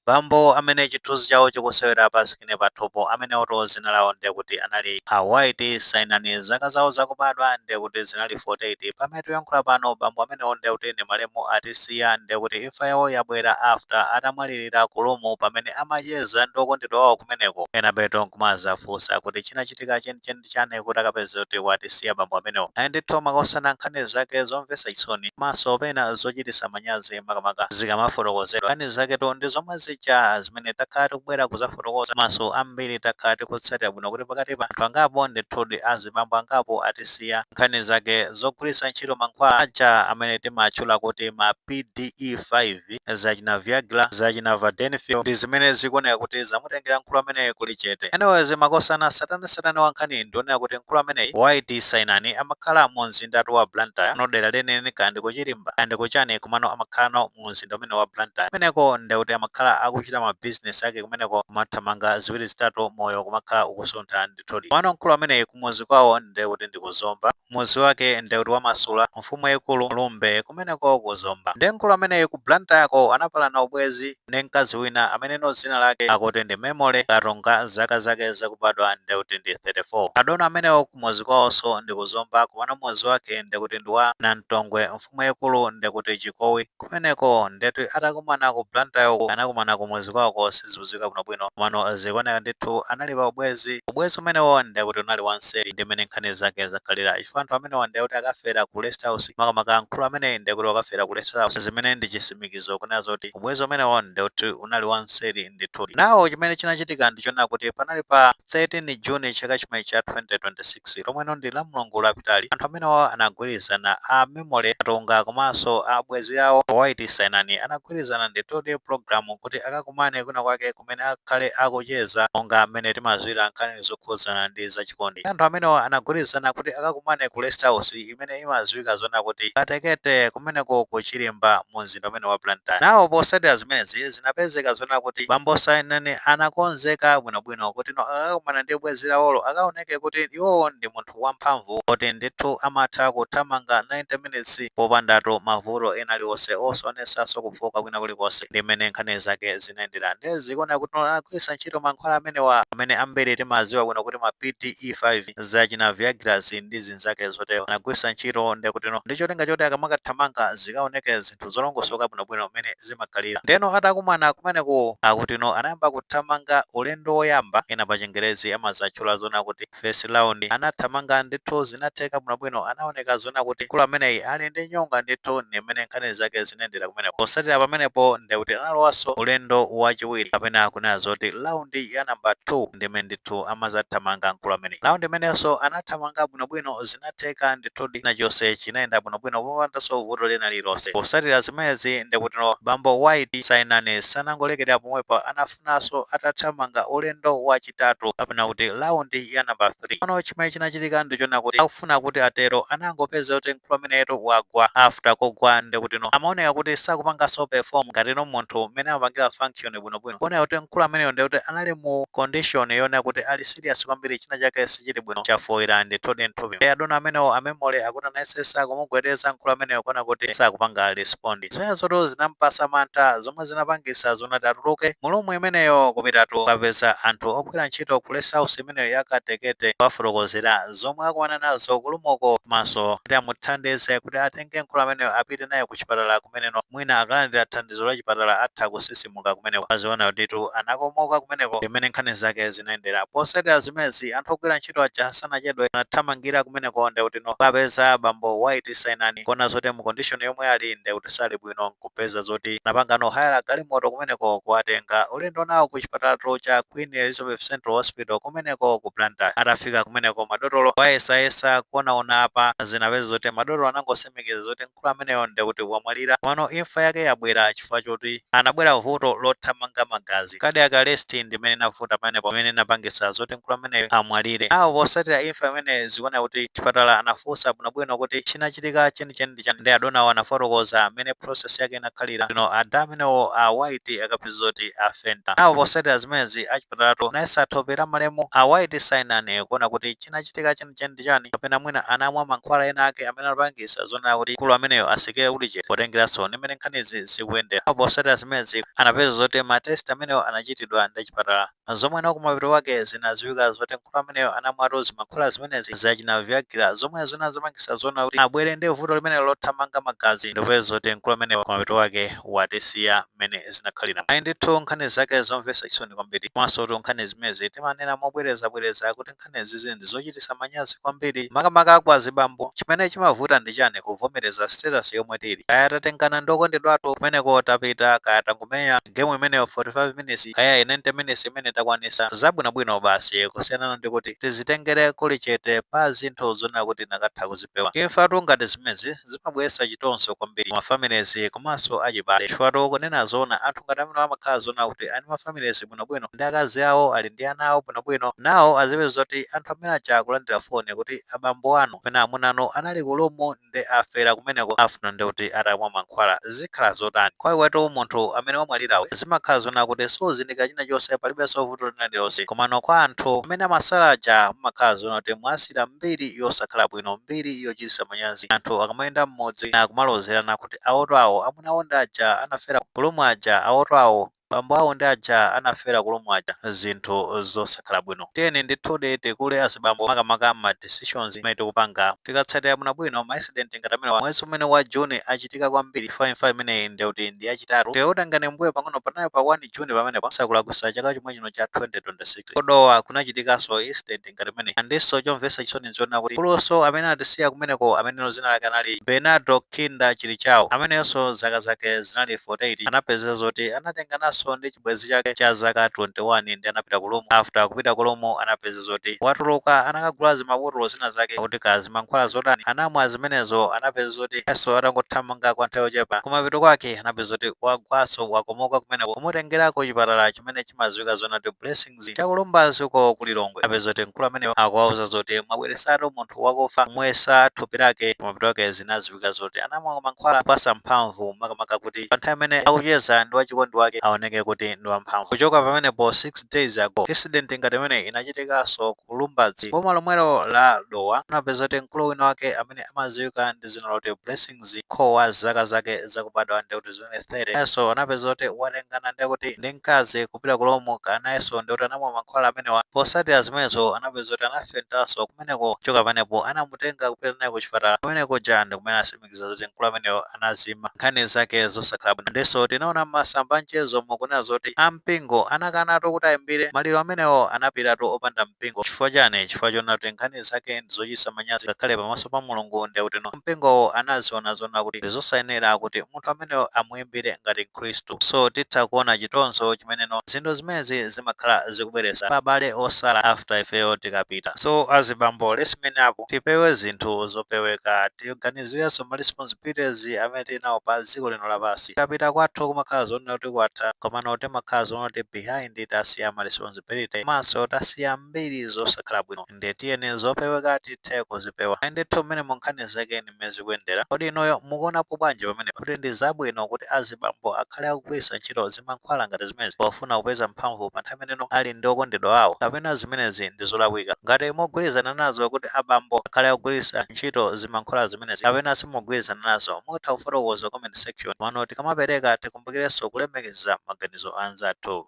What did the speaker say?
Bambo amene chithunzi chawo chikusewera pasikirini pathupo amenewotu dzina lawo ndiye kuti anali a White Sainani. Zaka zawo zakubadwa ndiye kuti zinali 48. Pamene tikuyankhula pano bambo amenewo ndiye kuti ndi malemu atisiya ndiye kuti imfa yawo yabwera after atamwalirira ku room pamene amacheza ndi okondedwa wawo kumeneko enabeto nkumazafunsa kuti chinachitika chenicheni ndi chani kuti akapeze kuti watisiya bambo amenewo? Ayi ndithu makosana nkhani zake zomvetsa chisoni komanso pena zochititsa manyazi makamaka zikamafotokozedwa. Nkhani zaketu ndi zomwe zija zimene takhala tikubwera kuzafotokoza komanso ambiri takhala tikutsatira bwino kuti pakati pa anthu angapo ndithudi azibambo angapo atisiya nkhani zake zogwiritsa ntchito mankhwala aja amene timatchula kuti ma PDE5. hiv, zachina viagra, zachina vardenafil ndi zimene zikuoneka kuti zamutengera mkulu ameneyi kuli chete. Anyways makosana tsatanetsatane wa nkhaniyi ndi onena kuti mkulu ameneyi White Sainani amakhala mu mzindatu wa Blantyre komano dera lenileni kaya ndi ku Chirimba kaya ndi ku chani komano amakhalano mu mzinda umenewu wa Blantyre kumeneko nde kuti amakhala akuchita ma business ake kumeneko kumathamanga ziwiri zitatu moyo kumakhala ukusuntha ndithudi komano mkulu ameneyi kumuzi kwawo nde kuti ndi ku Zomba Mudzi wake nde kuti wa Masula, Mfumu yaikulu Lumbe kumeneko ku Zomba. Nde mkulu ameneyi ku Blantyre ko anapalana ubwezi ndi mkazi wina ameneno dzina lake akuti ndi Memory Katunga zaka zake zakubadwa nde kuti ndi 34. Adona amenewo kumudzi kwawonso ndi ku Zomba komano mudzi wake nde kuti ndi wa Namtongwe mfumu yaikulu ndekuti chikowi kumeneko ndeti atakumana ku Blantyre ku anakumana kumuzi kwawoko sizikudziwika bwinobwino komano zikuoneka ndithu anali pa ubwezi ubwezi umenewo ndekuti unali wanseri ndi mmene nkhani zake zakhalira chifukwa anthu amenewo ndekuti akafera ku rest house makamaka mkulu ameneyi ndekuti wakafera ku rest house zimene ndi chisimikizo kunena zoti ubwezi umenewo ndekuti unali wanseri ndithu nawo chimene chinachitika ndichonena kuti panali pa 13 June chaka chimenechi cha 2026 lomwe ndi lamulungu lapitali anthu amenewawa anagwirizana a memory katunga komanso abwenzi awo a white sainani anagwirizana ndithudi program kuti akakumane kwina kwake kumene akakhale akucheza monga mene timadziwira nkhani zokhudzana ndi za chikondi anthu amenewa anagwirizana kuti akakumane ku rest house imene imadziwika zonena kuti Katekete kumeneko ku Chirimba mu mzinda umene wa Blantyre. Nawo potsatira zimenezi zinapezeka zonena kuti bambo Sainani anakonzeka bwino bwino kuti no akakumana ndi bwenzi lawolo akaoneke kuti iwowo ndi munthu wa mphamvu oti ndithu amatha kuthamanga 90 minutes popandatu mavuto ena aliwonse osaonetsanso kufooka kwina kulikonse. Ndi mmene nkhani zake zinayendera nde zikuoneka kuti no anagwiritsa ntchito mankhwala amenewa amene ambiri timadziwa bwino kuti ma PDE5, zachina Viagra zi ndi zinzake zotero anagwiritsa ntchito ndekutino ndi cholinga choti akamakathamanga zikaoneke zinthu zolongosoka bwinobwino mmene zimakhalira ndeno atakumana kumeneko akutino anayamba kuthamanga ulendo woyamba ena pa chingerezi amazatchula zona kuti first round anathamanga ndithu zinatheka bwinobwino anaoneka zona kuti mkulu ameneyi ali ndi nyonga ndithu ndi mmene nkhani zake zinayendera kumeneko posatira pamenepo ndekuti analowanso ulendo wachiwiri kapena kunena zoti round ya namba 2 ndi mmene ndithu amazathamanga mkulu amene Round imenenso anathamanga bwinobwino zinatheka ndithudi chinachonse chinayenda bwinobwino popandanso vuto lina lililonse. Posatira zimenezi ndikutino bambo White Sainani sanangolekerera pomwepo anafunanso atathamanga ulendo wa chitatu kapena kuti round ya number 3. Komano chimene chinachitika ndi chona kuti akufuna kuti atero anangopeza kuti mkulu ameneyotu wagwa. After kugwa ndekutino amaoneka kuti sakupanganso perform ngatino munthu mmene amapangira function. bwinobwino kuoneka kuti mkulu ameneyo ndiye kuti anali mu condition yonena kuti ali serious kwambiri china chake sichili bwino chafoira ndithudi mthupi adona amenewo amemole akuti anayesesa kumugwedeza mkulu ameneyo kuona kuti sakupanga respond zimenezotu zinampasa mantha zomwe zinapangisa zona kuti atuluke mulumu imeneyo kupitatu kukapeza anthu ogwira ntchito ku rest house imeneyo yakatekete kuwafotokozera zomwe akumana nazo kulumoko komanso kuti amuthandize kuti atenge mkulu ameneyo apite naye ku chipatala kumeneko mwina akalandira thandizo thandizo la chipatala atha kusisimuka kumeneko. Mwaziona kutitu anakomoka kumeneko ndi mmene nkhani zake zinayendera. Posatira zimenezi, anthu ogwira ntchito aja sanachedwe anathamangira kumeneko ndekutino kukapeza bambo White Sainani kuona zoti mu condition yomwe ali ndekuti sali bwino nkupeza zoti anapangano hire galimoto kumeneko kuwatenga ulendo nawo ku chipatalatu cha Queen Elizabeth Central Hospital kumeneko ku Blantyre. Atafika kumeneko madotolo kuwayesayesa kuonaona apa zinapeza zoti madotolo anangosimikiza zoti Mkulu ameneyo nde kuti wamwalira komano imfa yake yabwera chifukwa choti anabwera vuto lothamanga magazi, cardiac arrest, ndimene inavuta pamenepo imene inapangisa zoti mkulu ameneyu amwalire. Now posatira imfa imeneyi zikuoneka kuti chipatala anafusa bwinobwino kuti chinachitika chenicheni ndi chani nde adonawo anafotokoza mmene process yake inakhalira ndeno ada amenewo a White akapeza zoti afenta. Now posatira zimenezi achipatalatu anayesa thope la malemu a White Sainani kuona kuti chinachitika cheni ndi chani kapena mwina anamwa mankhwala ena ake amene anapangisa zonena kuti mkulu ameneyo asikire kuli chete potengeranso ndi mmene nkhanizi zikuyendera. Koma posatira zimenezi anapeza zoti ma test amenewo anachitidwa ndi achipatala zomweno kumapeto kwake zinaziwika zoti mkulu ameneyo anamwatu zimankhwala zimenezi zachina viagra zomwe zinazapangisa zonena kuti abwere ndi vuto limenelo lothamanga magazi ndikupeza zoti mkulu ameneyo kumapeto kwake watisiya mmene zinakhalira. Ayi ndithu nkhani zake zomvesa chisoni kwambiri komansotu nkhani zimenezi timanena mobwerezabwereza kuti zimenezizi ndizochitisa manyazi kwambiri makamaka kwa azibambo chimene chimavuta ndi chani kuvomereza status yomwe tili kaya tatengana ndi okondedwathu kumeneko tapita kaya tangomenya game imeneyo 45 minutes kaya i 90 minutes imene takwanisa zabwinobwino basi kusiyana ndi kuti tizitengere kuli chete pa zinthu zonena kuti tinakatha kuzipewa imfatu ngati zimenezi zimabweretsa chitonzo kwambiri ma families komanso achibale chifukwa kunena zoona anthu ngati amene amakhala zonena kuti ali ma families bwinobwino ndi akazi awo ali ndi ana awo bwinobwino nawo azipeza zoti anthu amene aja akulandira foni kuti abambo anu kapena amuna anu anali ku lumu nde afera kumeneko after nde kuti atamwa mankhwala zimankhwala zotani kwa iwetu munthu amene wamwalirawe zimakhala zonena kuti suzindikira china chonse palibenso vuto lina lilonse komano kwa anthu amene amasala aja mumakhala zonena kuti mwawasiyira mbiri yosakhala bwino mbiri yochititsa manyazi anthu akamayenda m'mudzi akumalozerana kuti awoto awo amuna awo ndi aja anafera ku lumu aja awoto awo Bambo awo ndi aja anafera ku room aja zinthu zosakhala bwino. Tiyeni ndithudi tikule azibambo makamaka mma decisions amene tikupanga. Tikatsatira bwinobwino ma incident ngati amenewa mwezi umene wa June achitika kwambiri chifukwa imfa imeneyi ndekuti ndi yachitatu. Tikakutengani mmbuyo pang'ono panali pa 1 June pamenepo osakulakwisa chaka chomwe chino cha 2026. Ku Dowa kunachitikanso incident ngati imeneyi andinso chomvetsa chisoni nchonena kuti mkulunso amene anatisiya kumeneko amenenso dzina lake anali Bernardo Kinda Chilichao ameneyonso zaka zake zinali 48 anapezeka zoti anatengananso ndi chibwenzi chake cha zaka 21 nde anapita ku room after kupita ku room anapeza zoti watuluka anakagula zimabotolo zina zake akuti kaya zimankhwala zotani anamwa zimenezo anapeza zoti nayenso atangothamanga kwa nthawi yochepa kumapeto kwake anapeza zoti wagwanso wakomoka kumeneko kumutengera ku chipatala chimene chimaziwika zonena kuti blessings chakulumbazi uko ku lilongwe anapeza zoti mkulu ameneyo akuwauza zoti mwabweresatu munthu wakufa kumuyesa thupi lake mapeto ake zinaziwika zoti anamwa mankhwala opasa mphamvu makamaka kuti pa nthawi imene akucheza ndi wachikondi wake aoneke kuti ndi wamphamvu kuchoka pamenepo 6 days ago incident ngati imene inachitikanso ku lumbadzi boma lomwelo la dowa anapeza zoti mkulu wina wake amene amaziwika ndi zina loti blessing mzikhoma zaka zake zakubadwa ndekuti zinali 30 nayenso anapeza kuti watengana ndekuti ndi mkazi kupita ku lumu kaya nayenso ndekuti anamwa mankhwala amenewa posatira zimenezo anapeza kuti anafaintanso kumeneko kuchoka pamenepo anamutenga kupita naye ku chipatala kumene kuja ndikumene anasimikiza zoti mkulu ameneyo anazima nkhani zake zosakhala bwino ndinso tinaona mmasamba amchezomu akunena zoti ampingo anakanatu kuti ayimbire maliro amenewo anapitatu opanda mpingo chifukwa chani chifukwa chonena kuti nkhani zake ndizochitisa manyazi ngakhale pamaso pa mulungu ndekuti mpingowo anaziona zoona kuti ndi zosayenera kuti munthu ameneyo amuimbire ngati mkhristu. So titha kuona chitonzo chimeneno zinthu zimenezi zimakhala zikubweretsa pa abale osala after ifeyo tikapita. So azibambo let's man up tipewe zinthu zopeweka tiganizirenso ma responsibilities amene tili nawo pa dziko lino lapansi. Tikapita kwathu kumakhala zoona kuti kwatha komano timakhala zoona kuti behind tasiya ma responsibility komanso tasiya mbiri zosakhala bwino. Ndiye tiyeni zopeweka tithe kuzipewa. Ayi ndithu mmenemo nkhani zake ndi mmene zikuyendera. Kodi inuyo mukuonapo bwanji pamenepa? Kuti ndi zabwino kuti azibambo akhale akugwiritsa ntchito zimankhwala ngati zimenezi pofuna kupeza mphamvu pa nthawi imene iwo ali ndi okondedwa awo? Kapena zimenezi ndi zolakwika? Ngati mukugwirizana nazo kuti abambo akhale akugwiritsa ntchito zimankhwala zimenezi kapena simukugwirizana nazo, mutha kufotokoza ku comment section. Komano tikamapereka tikumbukirenso kulemekeza maganizo a anzathu.